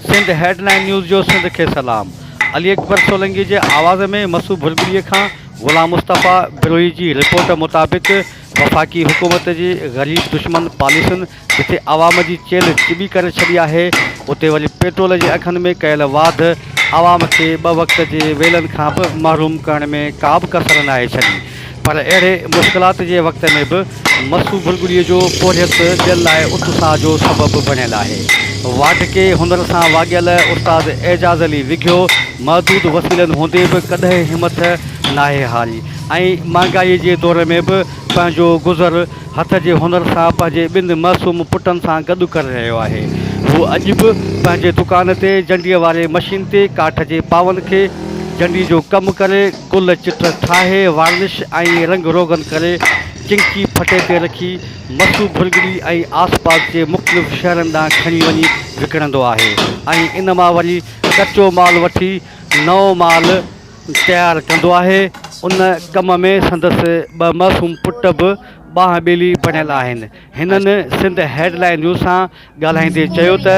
Sindh headline news جو سنڌ کي سلام علي اڪبر سولنگي جي آواز ۾ مسو ڀرڳڙي کان غلام مصطفيٰ بروهي جي رپورٽ مطابق وفاقي حڪومت جي غريب دشمن پاليسين جتي عوام جي چيلهه چٻي ڪري ڇڏي آهي، اتي وري پيٽرول جي اگهن ۾ ڪيل واڌ عوام کي ٻه وقت جي ويلن کان به محروم ڪرڻ ۾ ڪابه ڪسر ناهي ڇڏي پر اهڙي مشڪلات جي وقت ۾ به مسو بلبلي جو پورهيت ٻين لاء اتساهه جو سبب بڻيل آهي. واڍڪي هنر سان واڳيل استاد اعجاز علي وگهيو محدود وسيلن هوندي به ڪڏهن همٿ ناهي هاري ۽ مهانگائي جي دور ۾ به پنهنجو گذر هٿ جي هنر سان پنهنجي ٻن معصوم پٽن سان گڏ ڪري رهيو آهي. هو اڄ به پنهنجي دڪان تي جنڊيء واري مشين تي ڪاٺ جي پاون کي جنڊي جو ڪم ڪري، گل چٽ ٺاهي، وارنش ۽ رنگ روغن ڪري، چنڪي ڦٽي تي رکي، مسو ڀرڳڙي ۽ آس پاس جي مختلف شهرن ڏانهن کڻي وڃي وڪڻندو آهي ۽ ان مان وري ڪچو مال وٺي نئون مال تيار ڪندو آهي، ان ڪم ۾ سندس ٻه معصوم پٽ به ٻانهن ٻيلي بڻيل آهن، هنن سنڌ هيڊ لائين نيوز سان ڳالهائيندي چيو ته.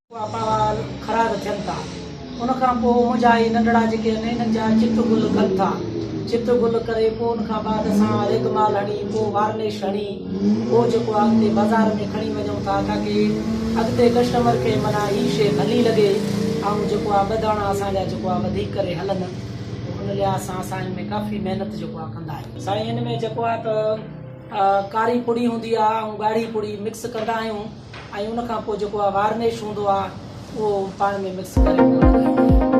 اھا ٻال خراب ٿين ٿا ان کان پوء منھنجا اھي ننڍڙا جيڪي ھن انھن جا چت گل ڪن ٿا چت گل ڪري پوء ان کان بعد اسان ريگ مال ھڻي پوء وارنش ھڻي پوء جيڪو آ اڳتي بازار ۾ کڻي وڃون ٿا تاڪي اڳتي ڪسٽمر کي معنيٰ ھي شيء ڀلي لڳي ۽ جيڪو آ ٻه داڻا اسان جا جيڪو آ وڌيڪ ڪري ھلن ان لحاظ سان اسان ان ۾ ڪافي محنت جيڪو آ ڪندا آھيون سائين ان ۾ جيڪو آ ته ڪاري پڙي ھوندي آ ۽ ڳاڙھي پڙي مڪس ڪندا آھيون ۽ ان کان پوء جيڪو وارنش هوندو آهي اهو پاڻ ۾ مڪس ڪري ان کان لڳائيندو آهيان.